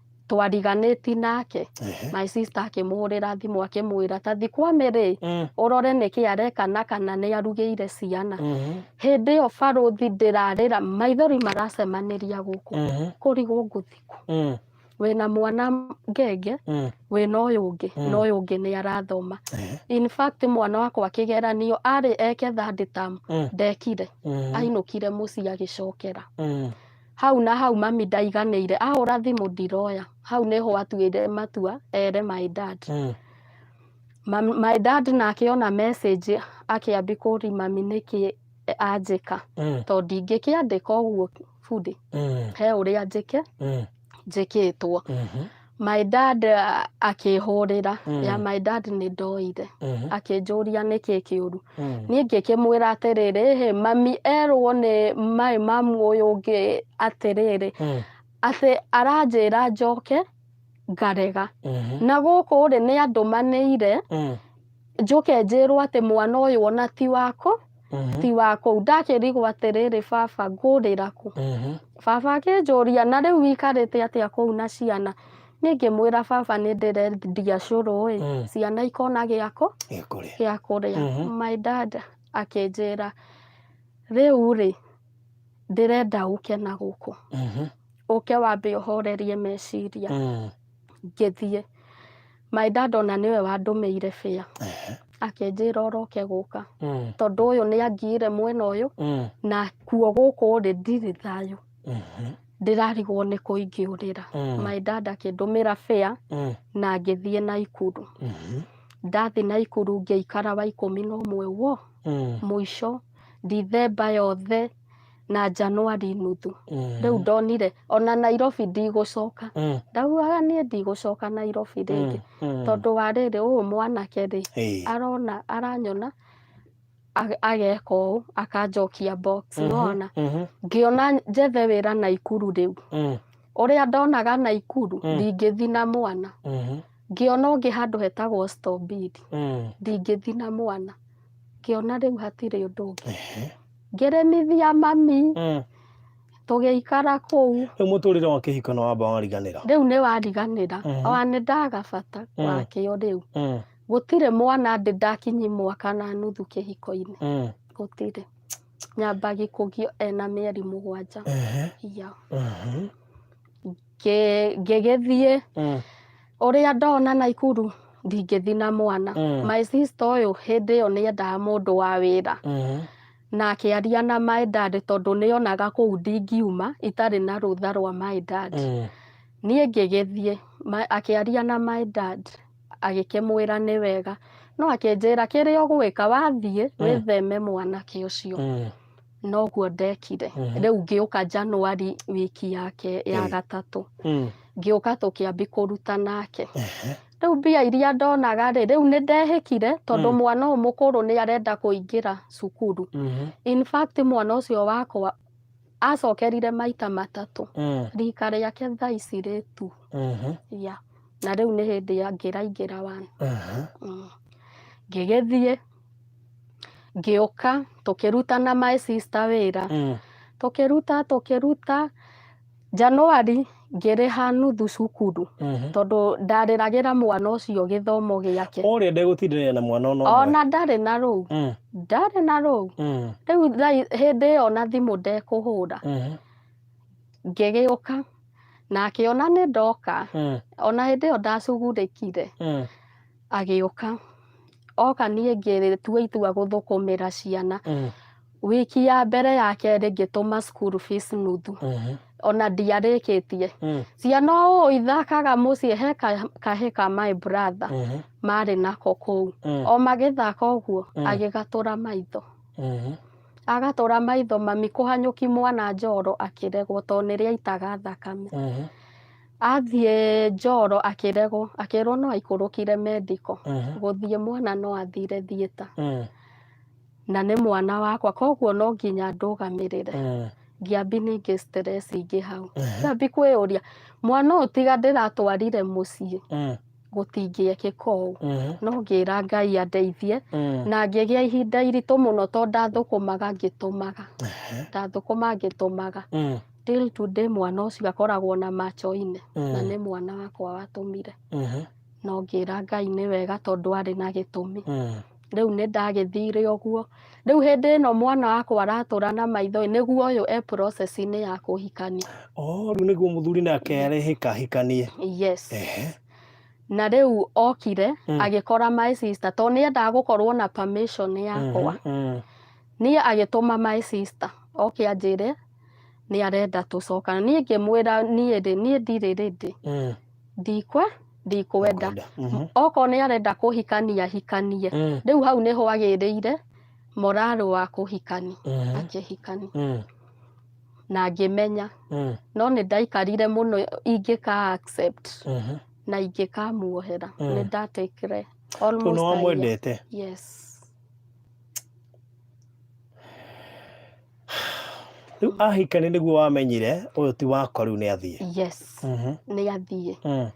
twariganĩti nake Ehe. my sister akĩmũhũrĩra thimũ akĩmwĩra ta thi kwa mĩrĩ Mm, ũrore nĩkĩ areka na kana nĩ arugĩire ciana mhm, hĩndĩ ĩyo barũthi ndĩrarĩra maithori maracemanĩria gũkũ mhm, kũrigwo ngũthikũ mm, wĩna mwana ngenge mm, wĩna ũyũ ũngĩ Mm. na ũyũ ũngĩ nĩ arathoma ehe, in fact mwana wakwa kĩgeranio arĩ eke third term mm, ndekire mm, ainũkire mũciĩ agĩcokera mm, hau na hau mami ndaiganĩire ahũra thimũ ndiroya hau nĩho atuire matua ere my dad Mm. Ma- my dad nake ona message akĩambi kũri mami nĩkĩ anjĩka Mm. tondũ ndingĩkĩandĩka ũguo bundi Mm. he ũrĩa njĩke Mm. njĩkĩtwo Mhm. My dad a- akĩhũrĩra Mm. ya my dad nĩ ndoire Mhm. akĩnjũria nĩkĩ kĩũru Mm. niĩ ngĩkĩmwĩra atĩrĩrĩ "Hĩ, mami erwo nĩ maĩ mamu ũyũ ũngĩ atĩrĩrĩ Mm. atĩ aranjĩra njoke ngarega Mhm. na gũkũ rĩ nĩ andũmanĩire Mm. njũke njĩrwo atĩ mwana ũyũ ona ti wakũ Mhm, ti wakũ ndakĩrigwo atĩrĩrĩ baba ngũrĩra kũ mhm. baba akĩnjũria na rĩu wĩkarĩte atĩa kũu na ciana niĩ ngĩmwĩra baba nĩ ndĩrendia cũrũ ĩ Mm. ciana ikona gĩakũ Gĩkũrĩa. gĩa kũrĩa Mhm. my dad akĩnjĩra rĩu rĩ ndĩrenda ũke na gũkũ Mhm, ũke wambe ũhorerie meciria mm. ngĩthiĩ my dad ona nĩwe wandũmĩire bĩa Ehe. akĩnjĩra ũroke gũka Mm. tondũ ũyũ nĩ angiire mwena ũyũ Mm. na kuo gũkũ rĩ ndirĩ thayũ Mhm. ndĩrarigwo nĩ kũingĩũrĩra Mm. my dad akĩndũmĩra bĩa Mm. na ngĩthiĩ na ikuru Mhm. ndathiĩ na ikuru ngĩikara wa ikũmi na ũmwe wo Mm. mũico ndithemba yothe na Januari nuthu Mm. rĩu ndonire ona Nairobi ndigũcoka Mm. ndaugaga niĩ ndigũcoka Nairobi rĩngĩ Mm. Mm. tondũ wa rĩrĩ ũyũ mwanake rĩ Ĩĩ. arona aranyona ag- ageka ũũ akanjokia box Mhm. nona Mhm. ngĩona njethe wĩra Naikuru rĩu Mm. ũrĩa ndonaga Naikuru Mm. ndingĩthi na mwana Mhm. ngĩona ũngĩ handũ hetagwo Stobidi Mm. ndingĩthi na mwana ngĩona rĩu hatirĩ ũndũ ũngĩ Ehe. ngĩrĩmithia mami Mm. tũgĩikara kũu Rĩu mũtũrĩre wa kĩhiko nĩ wamba wariganĩra. rĩu nĩ wariganĩra Mhm. ona nĩ ndagabata Mm. wakĩo rĩu Mm. gũtirĩ mwana ndĩ ndakinyi mwaka na nuthu kĩhiko-inĩ Mm. gũtirĩ nyambagi kũgio ena mĩeri mũgwanja Ehe. ya Mhm. Ngĩ- ngĩgĩthiĩ Mm. ũrĩa ndona naikuru ndingĩthi na mwana Mm. my sister ũyũ hĩndĩ ĩyo nĩ endaga mũndũ wa wĩra Mhm. na akĩaria na my dad tondũ nĩ onaga kũu ndingiuma itarĩ na rũtha rwa my dad Mm. niĩ ngĩgĩthiĩ ma- akĩaria na my dad agĩkĩmwĩra nĩ wega no akĩnjĩra kĩrĩa ũgwĩka wathiĩ wĩtheme mwanake ũcio Mm. noguo ndekire Mhm. rĩu ngĩũka januari wiki yake ya Eh. gatatũ Mm. ngĩũka tũkĩambi kũruta nake Ehe. rĩu mbia iria ndonaga rĩ rĩu nĩ ndehĩkire tondũ Mm. mwana ũyũ mũkũrũ nĩ arenda kũingĩra cukuru Mhm. in fact mwana ũcio wakwa acokerire maita matatũ Mm. rika rĩake thaa ici rĩ tu Mhm. ya na rĩu nĩ hĩndĩ ya ngĩraingĩra wana Aha. Mm. ngĩgĩthiĩ ngĩũka tũkĩruta na my sister wĩra Mm. tũkĩruta tũkĩruta Januari ngĩrĩha nuthu cukuru Mhm. tondũ ndarĩragĩra mwana ũcio gĩthomo gĩake Ũrĩa ndegũtindanĩra na mwana ona ũmwe. ona ndarĩ na rũu Mm. ndarĩ na rũu Mm. rĩu thaa- hĩndĩ ĩyo na thimũ ndekũhũra Mhm. ngĩgĩũka na akĩona nĩ ndoka Mm. ona hĩndĩ ĩyo ndacugurĩkire Mm. agĩũka oka niĩ ngĩtua itua gũthũkũmĩra ciana Mm. wiki ya mbere ya kerĩ ngĩtũma school fees nuthu Mhm. ona ndiarĩkĩtie Mm. ciana ũũ ithakaga mũciĩ he ka- kahĩ ka my brother Mhm. marĩ nako kũu Mm. o magĩthaka ũguo Mm. agĩgatũra maitho Mhm. agatũra maitho mami kũhanyũki mwana njoro akĩregwo tondũ nĩrĩaitaga thakame Mhm. Athiĩ njoro akĩregwo, akĩrwo no aikũrũkire mendiko, Mhm. gũthiĩ mwana no athire thieta, Mm, na nĩ mwana wakwa, koguo no nginya ndũgamĩrĩre. mm, Ngĩambi ningĩ stress ingĩ hau. Mhm. Ngĩambi kwĩyũria, mwana ũyũ tiga ndĩratwarire mũciĩ, mm, gũtingĩekĩka ũũ. mhm, No ngĩra Ngai andeithie, mm. na ngĩgĩa ihinda iritũ mũno tondũ ndathũkũmaga ngĩtũmaga. Ehe. Ndathũkũma ngĩtũmaga. Mm. till today mwana ũcio akoragwo na macho-inĩ na nĩ mwana wakwa watũmire Mhm. na ngĩra ngai nĩ wega tondũ arĩ na gĩtũmi Mm. rĩu nĩ ndagĩthire ũguo rĩu hĩndĩ ĩno mwana wakwa aratũra na maitho nĩguo ũyũ e process-inĩ ya kũhikania Oh, rĩu nĩguo mũthuri nake arehĩka hikanie yes Ehe. na rĩu okire Mm. agĩkora my sister tondũ nĩ endaga gũkorwo na permission yakwa Mhm. Mm. niĩ agĩtũma my sister oke anjĩre nĩ arenda tũcokana niĩ ngĩmwĩra niĩ rĩ niĩ ndirĩ rĩndĩ Mm. ndikwe ndikwenda Kwenda. Mhm. okorwo nĩ arenda kũhikania hikanie Mm. rĩu hau nĩho agĩrĩire morarũ wa kũhikani Mhm. akĩhikani Mm. na ngĩmenya Mm. no nĩ ndaikarire mũno ingĩka accept Mhm. na ingĩkamuohera Mm. nĩ ndatikire Tondũ nĩ wamwendete yes rĩu ahika nĩ nĩguo wamenyire ũyũ ti wakwa rĩu nĩ athiĩ yes Mhm. nĩ athiĩ Mm,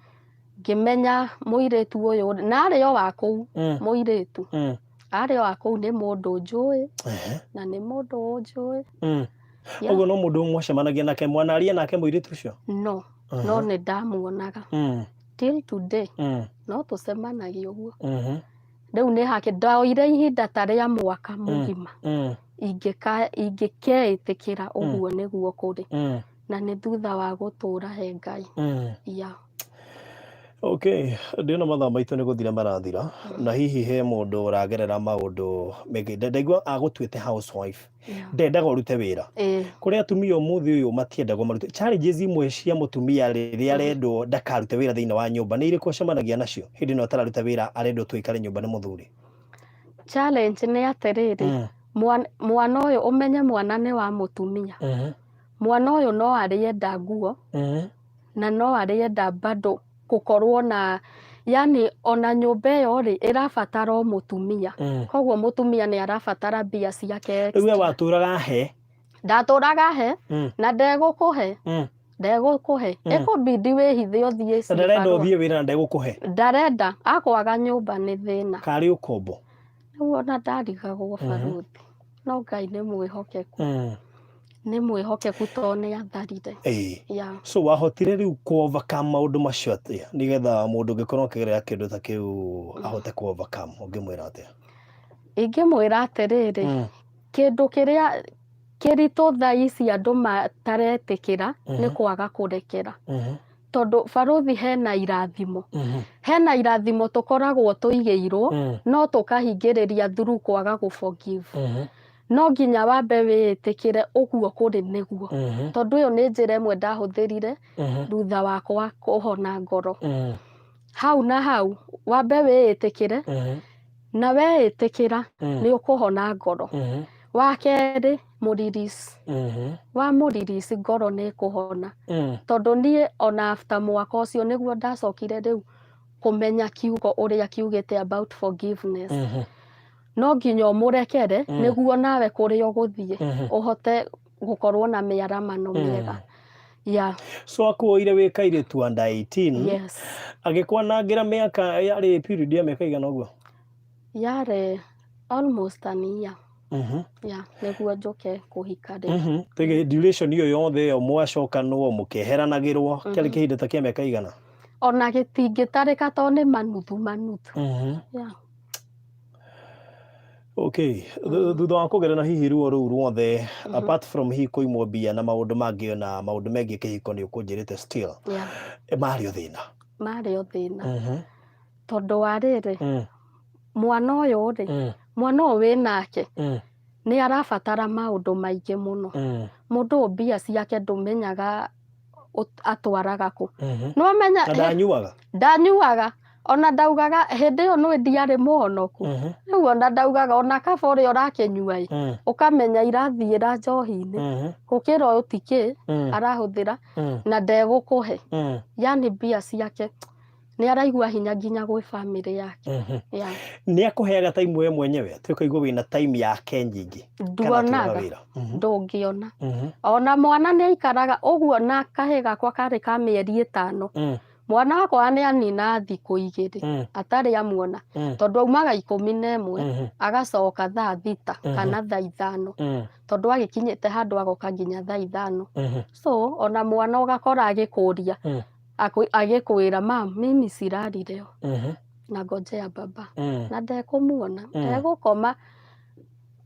ngĩmenya mũirĩtu ũyũ na arĩ o wa kũu mm, mũirĩtu mm. arĩ o wa kũu nĩ mũndũ njũĩ Ehe, na nĩ mũndũ ũnjũĩ mm. Yeah. ũguo no mũndũ ũmwe mwacemanagia nake mwanaria nake mũirĩtu ũcio no Mhm. no nĩ ndamuonaga Mm, till today mm, no tũcemanagia ũguo mhm. rĩu nĩ hake ndoire ihinda ta rĩa mwaka mũgima mm, ingĩka- ingĩkeĩtĩkĩra ũguo nĩguo kũrĩ mm, na nĩ thutha wa gũtũũra he ngai mm. ya Okay, ndĩona mathaa maitũ nĩ gũthira marathira na hihi he mũndũ ũragerera maũndũ mĩgĩnda ndaigua agũtuĩte housewife Yeah. ndendaga ũrute wĩra Eh, kũrĩ atumia ũmũthĩ ũyũ matiendaga marute challenges imwe cia mũtumia rĩrĩa arendwo ndakarute wĩra thĩinĩ wa nyũmba nĩ irĩkũ acemanagia nacio hĩndĩ ĩno atararuta wĩra arendwo tu aikare nyũmba nĩ mũthuri challenge nĩ atĩrĩrĩ Mm. mwan- mwana ũyũ ũmenye mwana nĩ wa mũtumia Mhm. mwana ũyũ no arĩenda nguo Mhm. na no arĩenda bado gũkorwo na yani ona nyũmba ĩyo rĩ ĩrabatara o mũtumia mm. koguo mũtumia nĩ arabatara mbia ciake rĩu we watũraga he ndatũraga he mm. na ndegũkũhe mm ndegũkũhe mm. ĩkũbindi wĩhithe ũthiĩ ndarenda ũthiĩ wĩra na ndegũkũhe ndarenda akwaga nyũmba nĩ thĩna karĩ ũkombo rĩu ona ndarigagwo mhm. baruthi no ngai nĩ mwĩhokeku mm. nĩ mwĩhokeku tondũ nĩ atharire yeah. so wahotire rĩu kuovaka maũndũ macio atĩa nĩgetha mũndũ ũngĩkorwo akĩgerera kĩndũ ta kĩu ahote kuovaka ũngĩmwĩra atĩa ingĩmwĩra atĩrĩrĩ mm. kĩndũ kĩrĩa kĩritũ thaa ici andũ mataretĩkĩra mm -hmm. nĩ kwaga kũrekera mm -hmm. tondũ barũthi hena irathimo Mhm. hena irathimo tũkoragwo tũigĩirwo Mm. no tũkahingĩrĩria thuru kwaga gũforgive Mhm. no nginya wambe wĩĩtĩkĩre ũguo kũrĩ nĩguo Mhm. tondũ ĩyo nĩ njĩra ĩmwe ndahũthĩrire Mhm. thutha wakwa kũhona ngoro Mm. hau na hau wambe wĩĩtĩkĩre Mhm. na weĩtĩkĩra Mm. nĩ ũkũhona ngoro Mhm. wa kerĩ mũririsi Ehe. wa mũririsi ngoro nĩ kũhona Eh. tondũ niĩ ona after mwaka ũcio nĩguo ndacokire rĩu kũmenya kiugo ũrĩa kiugĩte about forgiveness Ehe. no nginya ũmũrekere Mm. nĩguo nawe kũrĩa ũgũthiĩ Ehe. ũhote gũkorwo na mĩaramano Mm. mĩega ya so akuoire wĩ kairĩtu wa nda 18 yes agĩkwanangĩra mĩaka yarĩ period ya mĩaka igana ũguo yarĩ almost an year Mhm. yeah, nĩguo njũke kũhika rĩ Mhm. Tege duration iyo yothe iyo mwacokanwo mukeheranagirwo Mhm. kiari kihinda ta kia miaka igana ona gĩtingĩtarĩka to nĩ manuthu manuthu Mhm. yeah. okay Thu- thutha wa kugerana hihi ruo ruu ruothe Mhm. apart from hihi kuimwo mbia na maundu mangi na maundu mengi kihiko ni ukunjirite still yeah. eh, mari o thina marĩ o thĩna Mhm. tondũ wa rĩrĩ mm. mwana ũyũ rĩ mm. mwana ũyũ wĩ nake mm. nĩ arabatara maũndũ maingĩ mũno mm. mũndũ ũyũ mbia ciake ndũmenyaga atwaraga kũ mm -hmm. nĩwamenya ndanyuaga ndanyuaga ona ndaugaga hĩndĩ ĩyo nĩ ndiarĩ mũhonoku mhm. rĩu ona ndaugaga ona kaba ũrĩa ũrakĩnyua ĩ mm. ũkamenya irathiĩra njohi-inĩ mhm. gũkĩra ũyũ tikĩ mm. arahũthĩra mm. na ndegũkũhe yani mbia ciake nĩ araigua hinya nginya gwĩ bamĩrĩ yake Mhm. ya nä akåheaga taimu we mwenyewe atä å kaigua wä na taimu yake nyingä nduonaga ndũngĩona ona mwana nĩ aikaraga ũguo na kahĩ gakwa karĩ ka mĩeri ĩtano mwana wakwa nĩ anina thikũ igĩrĩ atarĩ amuona tondũ aumaga ikũmi na ĩmwe agacoka thaa thita Mhm. kana thaa ithano tondũ agĩkinyĩte handũ agoka nginya thaa ithano so ona mwana ũgakora agĩkũria Mm. Akũ- agĩkwĩra ma mimi cirarire o Mhm. na ngojea baba Mm. na ndekũmuona Mm. ndegũkoma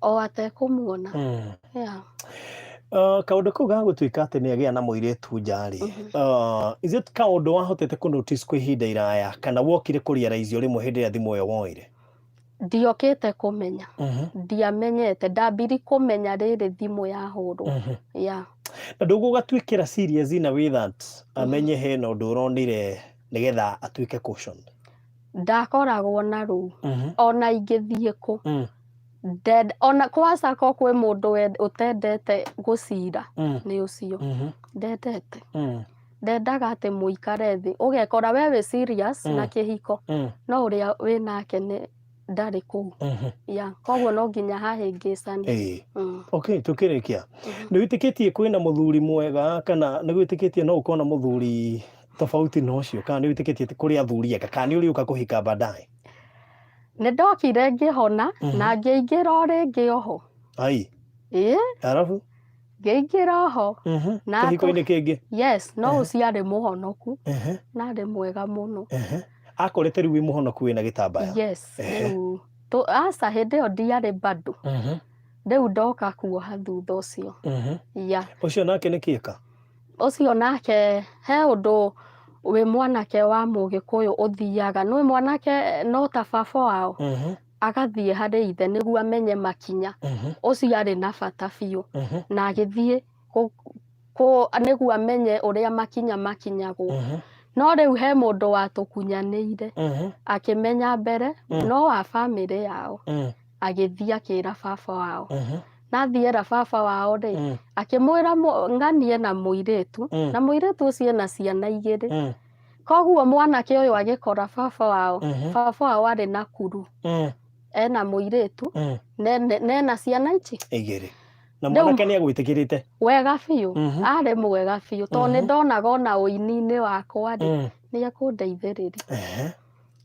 o atekũmuona Mm. yeah. Uh, kaundu kau ga gutuika ati ni agia na muiritu njari uh, is it kaundu wahotete ku notice kwa ihinda iraya kana wokire ku realize rimwe hindi ria thimu iyo woire ndiokĩte kũmenya Mhm, ndiamenyete ndambiri kũmenya rĩrĩ thimũ yahũrwo mhm. ya na ndũgũgatuĩkĩra serious in a way that amenye hena ũndũ ũronire nĩgetha atuĩke cautioned ndakoragwo na rũu Mhm, ona ingĩthiĩ kũ mm, Ndend- ona kwaca ko kwĩ mũndũ wend- ũtendete gũcira mm, nĩ ũcio mhm, ndendete mm. ndendaga atĩ mũikare thĩ ũgekora we wĩ serious Mm. na kĩhiko Mm, no ũrĩa wĩ nake nĩ ndarĩ kũu mhm. ya koguo no nginya hahĩngĩcani Ĩĩ. Mm. okay tũkĩrĩkia Mhm. nĩ wĩtĩkĩtie kwĩna mũthuri mwega kana nĩ wĩtĩkĩtie no ũkona mũthuri tofauti na ũcio kana nĩ wĩtĩkĩtie atĩ kũrĩ athuri ega kana nĩ ũrĩũka kũhika baadaye nĩ ndokire ngĩhona Mhm. na ngĩingĩra o rĩngĩ oho ai ĩĩ arabu ngĩingĩra ho Ehe, Na atũ- kĩhiko-inĩ kĩngĩ yes no Ehe. ũciarĩ mũhonoku Ehe, na arĩ mwega mũno ehe. akorete rĩu wĩ mũhonoku wĩna gĩtambaya yes Ehe. rĩu tũ- aca hĩndĩ ĩyo ndiarĩ bado Mhm, rĩu ndoka kuoha thutha ũcio mhm. ya ũcio nake nĩ kĩka ũcio nake he ũndũ wĩ mwanake wa mũgĩkũyũ ũthiaga nĩ mwanake no ta baba wao Mhm. agathiĩ harĩ ithe nĩguo amenye makinya Mhm, ũcio arĩ na bata biũ mhm, na agĩthiĩ kũ- kũ- nĩguo amenye ũrĩa makinya makinyagwo mhm, no rĩu he mũndũ watũkunyanĩire mhm, akĩmenya mbere Mm. no wa bamĩrĩ yao mm, agĩthiĩ akĩra baba wao mhm, nathiĩ era baba wao rĩ mm, akĩmwĩra mũ- ng'anie na mũirĩtu mm, na mũirĩtu ũcio ena ciana igĩrĩ mm, koguo mwanake ũyũ agĩkora baba wao Mhm. baba wao arĩ na kuru Mm, ena mũirĩtu mm. ne- ne- nena ciana ici igĩrĩ na Rĩu- mwanake nĩ egwĩtĩkĩrĩte wega biũ Mhm. arĩ mwega biũ tondũ nĩ Mhm. ndonaga ona ũini-inĩ wakwa rĩ Mm, nĩ ekũndeithĩrĩria ehe.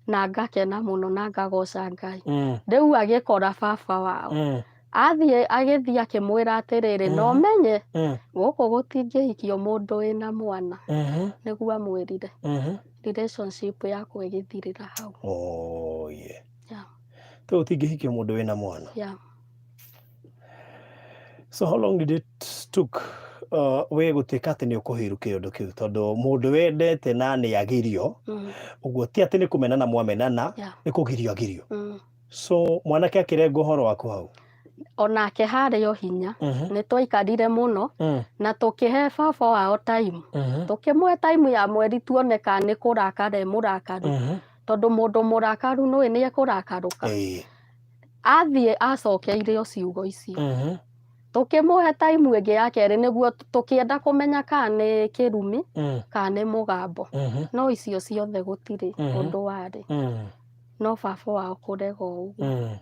na ngakena mũno na ngagoca ngai mm. rĩu agĩkora baba wao mm. athiĩ agĩthiĩ akĩmwĩra atĩrĩrĩ no mm-hmm. menye mm. gũkũ gũtingĩhikio mũndũ wĩna mwana mm-hmm. nĩguo amwĩrire mm-hmm. relationship yakwa ĩgĩthirĩra hau oh, yeah. yeah. tondũ ũtingĩhikio mũndũ wĩna mwana yeah. So how long did it took uh, we gũtuĩka atĩ nĩ ũkũhĩru kĩũndũ kĩu tondũ mũndũ wendete na nĩ agirio Mm. ũguo ti atĩ nĩ kũmenana mwamenana Yeah. nĩ kũgirio agirio Mm. so mwanake akĩrenga ũhoro waku hau onake harĩ o hinya Mhm. nĩ twaikarire mũno Mm, na tũkĩhe baba wao time mhm, tũkĩmũhe time ya mweri tuone ka nĩ kũrakara e mũrakaru mhm. tondũ mũndũ mũrakaru nũĩ nĩ ekũrakarũka Ĩĩ. athiĩ acokeire o ciugo ici Mhm. tũkĩmũhe taimu ĩngĩ ya kerĩ nĩguo tũkĩenda kũmenya kana nĩ kĩrumi Mm. kana nĩ mũgambo Mhm. no icio ciothe gũtirĩ Mhm. ũndũ warĩ Mm. no baba wao kũrega ũguo Mm.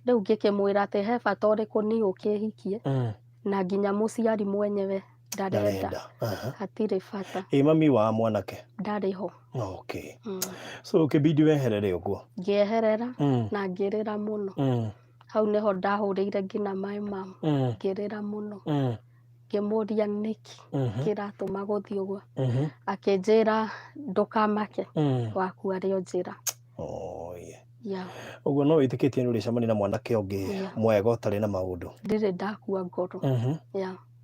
rĩu ngĩkĩmwĩra atĩ he bata ũrĩkũ niĩ ũkĩhikie Mm. na nginya mũciari mwenyewe ndarenda Aha. hatirĩ bata ĩ mami wa mwanake ndarĩ ho okay Mm. so kĩbindi wehere rĩ ũguo ngĩeherera Mm, na ngĩrĩra mũno mm, hau nĩho ndahũrĩire nginya maĩ mamu mm, ngĩrĩra mũno mm, ngĩmũria nĩkĩ mhm, kĩratũma gũthiĩ ũguo mhm, akĩnjĩra ndũkamake mm. waku arĩ o njĩra Oh, yeah. ya ũguo no wĩtĩkĩtie nĩ ũrĩcemania na mwanake ũngĩ Yeah. mwega ũtarĩ na maũndũ ndirĩ ndakua ngoro Mhm. ya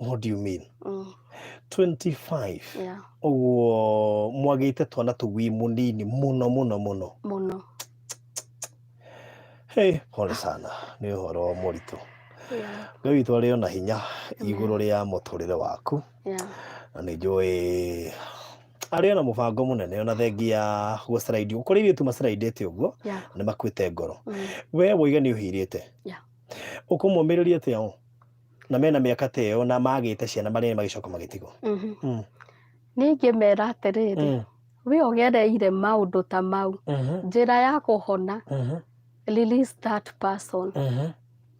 what do you mean Mm. 25 Yeah. ũguo mwagĩte twana tũgui mũnini mũno mũno mũno Mũno. hey, pole sana nĩ ũhoro mũritũ Yeah. ngai witũ arĩ ona hinya igũrũ rĩa mũtũrĩre waku Yeah. na nĩ njũĩ arĩ ona mũbango mũnene ona thengia gũciraidi kũrĩ irĩtu maciraidĩte ũguo Yeah. nĩ makuĩte ngoro Mm. we woiga nĩ ũhirĩte Yeah. ũkũmũmĩrĩria atĩa o na mena mĩaka ta ĩyo na magĩte ciana marĩ magĩcoka magĩtigwo Mhm. Mm. nĩ ingĩmera atĩrĩrĩ Mm. we ũgereire maũndũ ta mau Mhm. njĩra ya kũhona Mhm. release that person Mhm.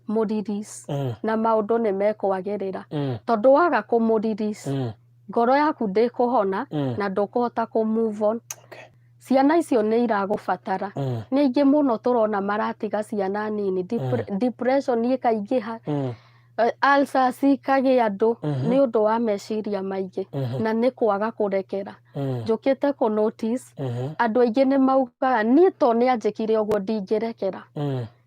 mũrelease Mm. na maũndũ nĩ mekwagĩrĩra Mm. tondũ waga kũmũrelease Mm. ngoro yaku ndĩkũhona Mm. na ndũkũhota kũ move on Okay. ciana icio nĩ iragũbatara Mm. nĩ aingĩ mũno tũrona maratiga ciana nini Depre- depression ĩkaingĩha Mm. eh, ulcers ikagĩa andũ Mhm. nĩ ũndũ wa meciria maingĩ Mhm. na nĩ kwaga kũrekera Mm. njũkĩte kũ notice Mhm. andũ aingĩ nĩ maugaga niĩ to nĩ anjĩkire ũguo ndingĩrekera Mm.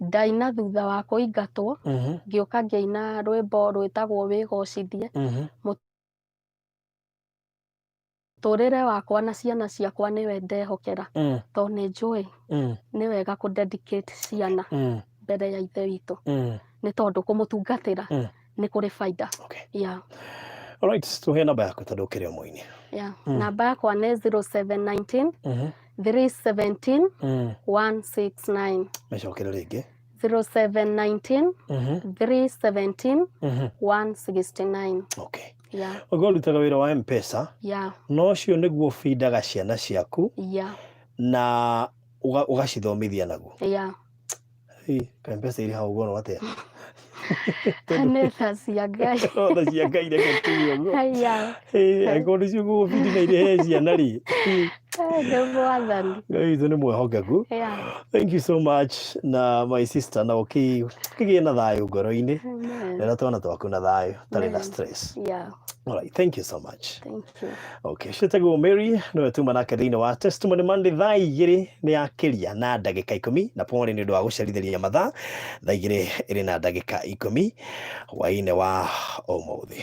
ndaina thutha wa kũingatwo mhm, ngĩũka ngĩina rwĩmbo rwĩtagwo wĩgocithie mhm. tũrĩre wakwa na ciana ciakwa nĩwe ndehokera Mm, to nĩ njũĩ mm, nĩ wega kũ dedicate ciana mm, mbere ya ithe witũ mm. nĩ tondũ kũmũtungatĩra Mm. nĩ kũrĩ baida Okay. yeah. Alright, tũhe namba yaku tondũ ũkĩrĩ o mũini. Yeah. Mm. namba yakwa nĩ 0719 Mhm. 317 Mm. 169 Mecokere rĩngĩ. 0719 Mhm. 317 Mhm. 169 Okay. yeah. Ũguo ũrutaga wĩra wa M-Pesa, yeah. no ũcio nĩguo ũbindaga ciana ciaku yeah. na ũga- ũgacithomithia naguo. yeah. Ĩ, ka mbeca irĩ hau ngorwo atĩa nĩ tha cia ngai tha cia ngai reke tuge ũguo haya Ĩ, angĩkorwo nĩcio ngũgũbindi na irĩhe ciana rĩ Ĩ, nĩ mwathani ngai witũ nĩ mwĩhokeku ya thank you so much na my sister na ũkĩ- ũkĩgĩe na thayũ ngoro-inĩ amen rera twana twaku na thayũ tarĩ na stress ya alright thank you so much thank you Okay, ciĩtagwo Mary nĩwe tuma nake thĩinĩ wa Testimony Monday thaa igĩrĩ nĩ yakĩria na ndagĩka ikũmi na pole nĩ ũndũ wa gũcerithĩria mathaa thaa igĩrĩ ĩrĩ na ndagĩka ikũmi hwainĩ wa ũmũthĩ